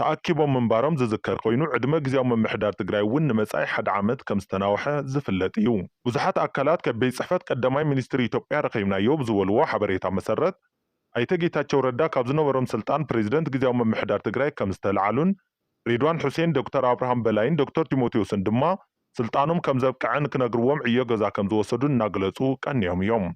ተኣኪቦም ምንባሮም ዝዝከር ኮይኑ፣ ዕድመ ግዝያዊ ምምሕዳር ትግራይ እውን ንመፃኢ ሓደ ዓመት ከም ዝተናውሐ ዝፍለጥ እዩ። ብዙሓት ኣካላት ከብ ቤት ፅሕፈት ቀዳማይ ሚኒስትር ኢትዮጵያ ረኺብናዮ ብዝበልዎ ሓበሬታ መሰረት፣ ኣይተ ጌታቸው ረዳ ካብ ዝነበሮም ስልጣን ፕሬዚደንት ግዝያዊ ምምሕዳር ትግራይ ከም ዝተልዓሉን ሬድዋን ሑሴን፣ ዶክተር ኣብርሃም በላይን ዶክተር ቲሞቴዎስን ድማ ስልጣኖም ከም ዘብቅዐ ንክነግርዎም ዕዮ ገዛ ከም ዝወሰዱ እናገለፁ ቀኒዮም እዮም።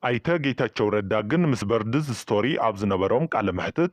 ኣይተ ጌታቸው ረዳ ግን ምስ በርድዝ ስቶሪ ኣብ ዝነበሮም ቃለ መሕትት፣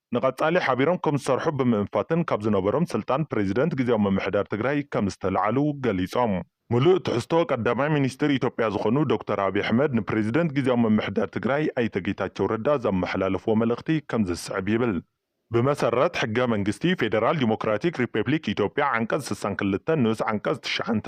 ንቐፃሊ ሓቢሮም ከምዝሰርሑ ብምእንፋትን ካብ ዝነበሮም ስልጣን ፕሬዚደንት ግዚያዊ ምምሕዳር ትግራይ ከምዝተልዓሉ ገሊፆም። ሙሉእ ትሕዝቶ ቀዳማይ ሚኒስትር ኢትዮጵያ ዝኾኑ ዶክተር ኣብይ ኣሕመድ ንፕሬዚደንት ግዚያዊ ምምሕዳር ትግራይ ኣይተ ጌታቸው ረዳ ዘመሓላለፍዎ መልእኽቲ ከምዚ ዝስዕብ ይብል። ብመሰረት ሕገ መንግስቲ ፌዴራል ዲሞክራቲክ ሪፐብሊክ ኢትዮጵያ ዓንቀፅ ስሳን ክልተን ንኡስ ዓንቀፅ ትሽዓንተ፣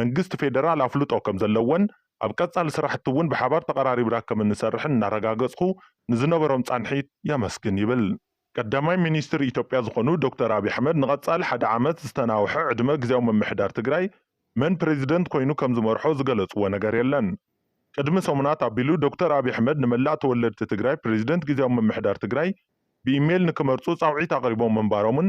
መንግስቲ ፌደራል ኣፍልጦ ከምዘለወን ኣብ ቀፃሊ ስራሕቲ እውን ብሓባር ተቐራሪብና ከምንሰርሕን እናረጋገፅኹ ንዝነበሮም ፃንሒት የመስግን ይብል። ቀዳማይ ሚኒስትር ኢትዮጵያ ዝኾኑ ዶክተር ኣብይ ኣሕመድ ንቐፃሊ ሓደ ዓመት ዝተናውሐ ዕድመ ግዝያዊ ምምሕዳር ትግራይ መን ፕሬዚደንት ኮይኑ ከምዝመርሖ ዝገለፅዎ ነገር የለን። ቅድሚ ሰሙናት ኣቢሉ ዶክተር ኣብይ ኣሕመድ ንመላእ ተወለድቲ ትግራይ ፕሬዚደንት ግዝያዊ ምምሕዳር ትግራይ ብኢሜይል ንክመርፁ ፃውዒት ኣቕሪቦም ምንባሮምን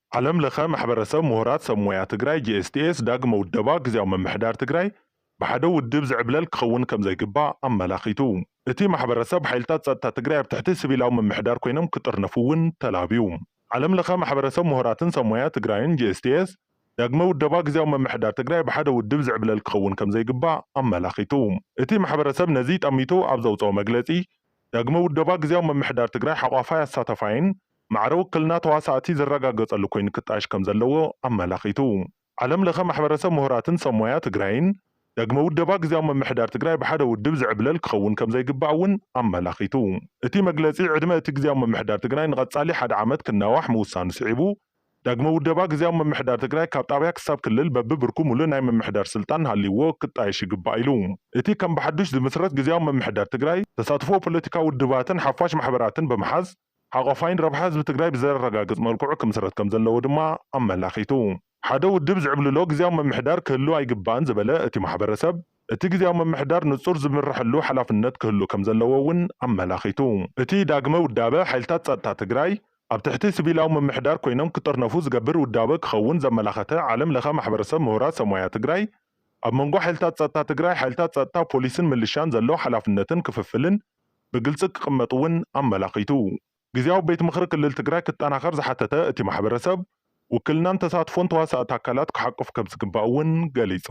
ዓለም ለኸ ማሕበረሰብ ሙሁራት ሰብ ሞያ ትግራይ፣ GSTS፣ ዳግመ ውደባ ግዝያዊ ምምሕዳር ትግራይ ብሓደ ውድብ ዝዕብለል ክኸውን ከምዘይግባእ ኣመላኺቱ። እቲ ማሕበረሰብ ሓይልታት ፀጥታ ትግራይ ኣብ ትሕቲ ስቪላዊ ምምሕዳር ኮይኖም ክጥርነፉ እውን ተላብዩ። ዓለም ለኸ ማሕበረሰብ ሙሁራትን ሰብ ሞያ ትግራይን፣ GSTS፣ ዳግመ ውደባ ግዝያዊ ምምሕዳር ትግራይ ብሓደ ውድብ ዝዕብለል ክኸውን ከምዘይግባእ ኣመላኺቱ። እቲ ማሕበረሰብ ነዚ ጠሚቱ ኣብ ዘውፀኦ መግለፂ ዳግመ ውደባ ግዝያዊ ምምሕዳር ትግራይ ሓቋፋይ፣ ኣሳታፋይን ማዕረ ውክልና ተዋሳእቲ ዝረጋገፀሉ ኮይኑ ክጣየሽ ከምዘለዎ ኣመላኺቱ። ዓለም ለኸ ማሕበረሰብ ምሁራትን ሰብ ሞያ ትግራይን ዳግመ ውደባ ግዝያዊ ምምሕዳር ትግራይ ብሓደ ውድብ ዝዕብለል ክኸውን ከምዘይግባእ እውን ኣመላኺቱ። እቲ መግለፂ ዕድመ እቲ ግዝያዊ ምምሕዳር ትግራይ ንቐፃሊ ሓደ ዓመት ክናዋሕ ምውሳኑ ስዒቡ ዳግመ ውደባ ግዝያዊ ምምሕዳር ትግራይ ካብ ጣብያ ክሳብ ክልል በቢብርኩ ሙሉእ ናይ ምምሕዳር ስልጣን ሃልይዎ ክጣየሽ ይግባእ ኢሉ። እቲ ከም ብሓዱሽ ዝምስረት ግዝያዊ ምምሕዳር ትግራይ ተሳትፎ ፖለቲካዊ ውድባትን ሓፋሽ ማሕበራትን ብምሓዝ ሓቋፋይን ረብሓ ህዝቢ ትግራይ ብዘረጋግፅ መልክዑ ክምስረት ከምዘለዎ ድማ ኣመላኺቱ። ሓደ ውድብ ዝዕብልሎ ግዝያዊ ምምሕዳር ክህሉ ኣይግባእን ዝበለ እቲ ማሕበረሰብ፣ እቲ ግዝያዊ ምምሕዳር ንፁር ዝምረሐሉ ሓላፍነት ክህሉ ከምዘለዎ እውን ኣመላኺቱ። እቲ ዳግመ ውዳበ ሓይልታት ፀጥታ ትግራይ ኣብ ትሕቲ ስቪላዊ ምምሕዳር ኮይኖም ክጥርነፉ ዝገብር ውዳበ ክኸውን ዘመላኸተ ዓለም ለኸ ማሕበረሰብ ምሁራት ሰብ ሞያ ትግራይ፣ ኣብ መንጎ ሓይልታት ፀጥታ ትግራይ፣ ሓይልታት ፀጥታ፣ ፖሊስን ምልሻን ዘሎ ሓላፍነትን ክፍፍልን ብግልፂ ክቕመጥ እውን ኣመላኺቱ። ግዚያዊ ቤት ምኽሪ ክልል ትግራይ ክጠናኸር ዝሓተተ እቲ ማሕበረሰብ፣ ውክልናን ተሳትፎን ተዋሳእቲ ኣካላት ክሓቁፍ ከምዝግባእ እውን ገሊፁ።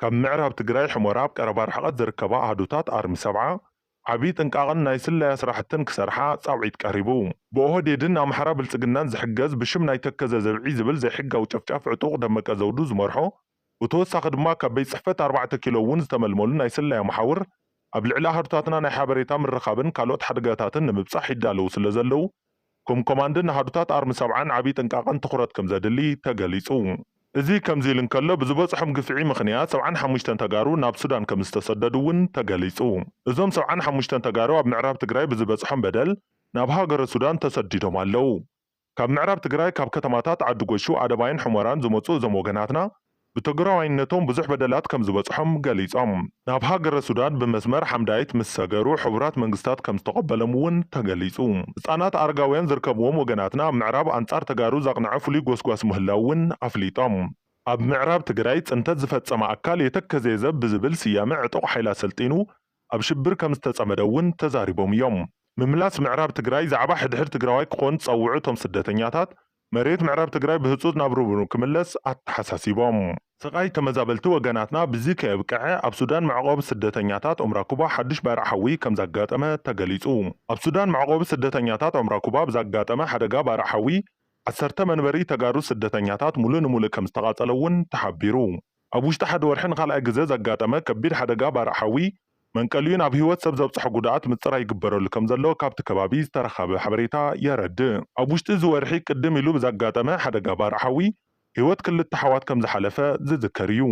ካብ ምዕራብ ትግራይ ሑመራ ኣብ ቀረባ ርሕቐት ዝርከባ ኣሃዱታት ኣርሚ ሰብዓ ዓብይ ጥንቃቐን ናይ ስለያ ስራሕትን ክሰርሓ ፃውዒት ቀሪቡ። ብኦህዴድን ኣምሓራ ብልፅግናን ዝሕገዝ ብሽም ናይ ተከዘ ዘብዒ ዝብል ዘይሕጋዊ ጨፍጫፍ ዕጡቕ ደመቀ ዘውዱ ዝመርሖ ብተወሳኺ ድማ ካብ ቤት ፅሕፈት ኣርባዕተ ኪሎ እውን ዝተመልመሉ ናይ ስለያ መሓውር ኣብ ልዕሊ ኣሃዱታትና ናይ ሓበሬታ ምርኻብን ካልኦት ሓደጋታትን ንምብፃሕ ይዳለዉ ስለዘለዉ ኮም ኮማንድን ኣሃዱታት ኣርሚ ሰብዓን ዓብይ ጥንቃቐን ትኹረት ከምዘድሊ ተገሊፁ። እዚ ከምዚ'ሉ እንከሎ ብዝበፅሖም ግፍዒ ምኽንያት ሰብዓን ሓሙሽተን ተጋሩ ናብ ሱዳን ከምዝተሰደዱ እውን ተገሊፁ። እዞም ሰብዓን ሓሙሽተን ተጋሩ ኣብ ምዕራብ ትግራይ ብዝበፅሖም በደል ናብ ሃገረ ሱዳን ተሰዲዶም ኣለው። ካብ ምዕራብ ትግራይ ካብ ከተማታት ዓዲጎሹ፣ ኣደባይን ሑመራን ዝመፁ እዞም ወገናትና፣ ብትግራዋይነቶም ብዙሕ በደላት ከምዝበፅሖም ገሊፆም። ናብ ሃገረ ሱዳን ብመስመር ሓምዳይት ምስ ሰገሩ ሕቡራት መንግስታት ከምዝተቐበሎም እውን ተገሊፁ። ህፃናት ኣረጋውያን ዝርከብዎም ወገናትና ኣብ ምዕራብ ኣንፃር ተጋሩ ዘቕነዐ ፍሉይ ጎስጓስ ምህላው እውን ኣፍሊጦም። ኣብ ምዕራብ ትግራይ ፅንተት ዝፈፀመ ኣካል የተከዜ ዘብ ብዝብል ስያመ ዕጡቕ ሓይሊ ኣሰልጢኑ ኣብ ሽብር ከምዝተፀመደ እውን ተዛሪቦም እዮም። ምምላስ ምዕራብ ትግራይ ዛዕባ ሕድሕድ ትግራዋይ ክኾን ዝፀውዑ እቶም ስደተኛታት፣ መሬት ምዕራብ ትግራይ ብህፁፅ ናብ ርብርቡ ክምለስ ኣተሓሳሲቦም። ስቓይ ተመዛበልቲ ወገናትና ብዚ ከየብቅዐ ኣብ ሱዳን መዕቖቢ ስደተኛታት ዑምራኩባ ሓዱሽ ባርዕ ሓዊ ከምዛጋጠመ ተገሊፁ። ኣብ ሱዳን መዕቖቢ ስደተኛታት ዑምራኩባ ብዛጋጠመ ሓደጋ ባርዕ ሓዊ ዓሰርተ መንበሪ ተጋሩ ስደተኛታት ሙሉእ ንሙሉእ ከምዝተቓፀለ እውን ተሓቢሩ። ኣብ ውሽጢ ሓደ ወርሒ ንካልኣይ ግዘ ዘጋጠመ ከቢድ ሓደጋ ባርዕ ሓዊ መንቀሊኡን ኣብ ህይወት ሰብ ዘብፅሖ ጉድኣት ምፅራይ ይግበረሉ ከምዘሎ ካብቲ ከባቢ ዝተረኸበ ሓበሬታ የረድእ። ኣብ ውሽጢ እዚ ወርሒ ቅድም ኢሉ ብዘጋጠመ ሓደጋ ባርዕ ሓዊ ህይወት ክልተ ኣሕዋት ከምዝሓለፈ ዝዝከር እዩ።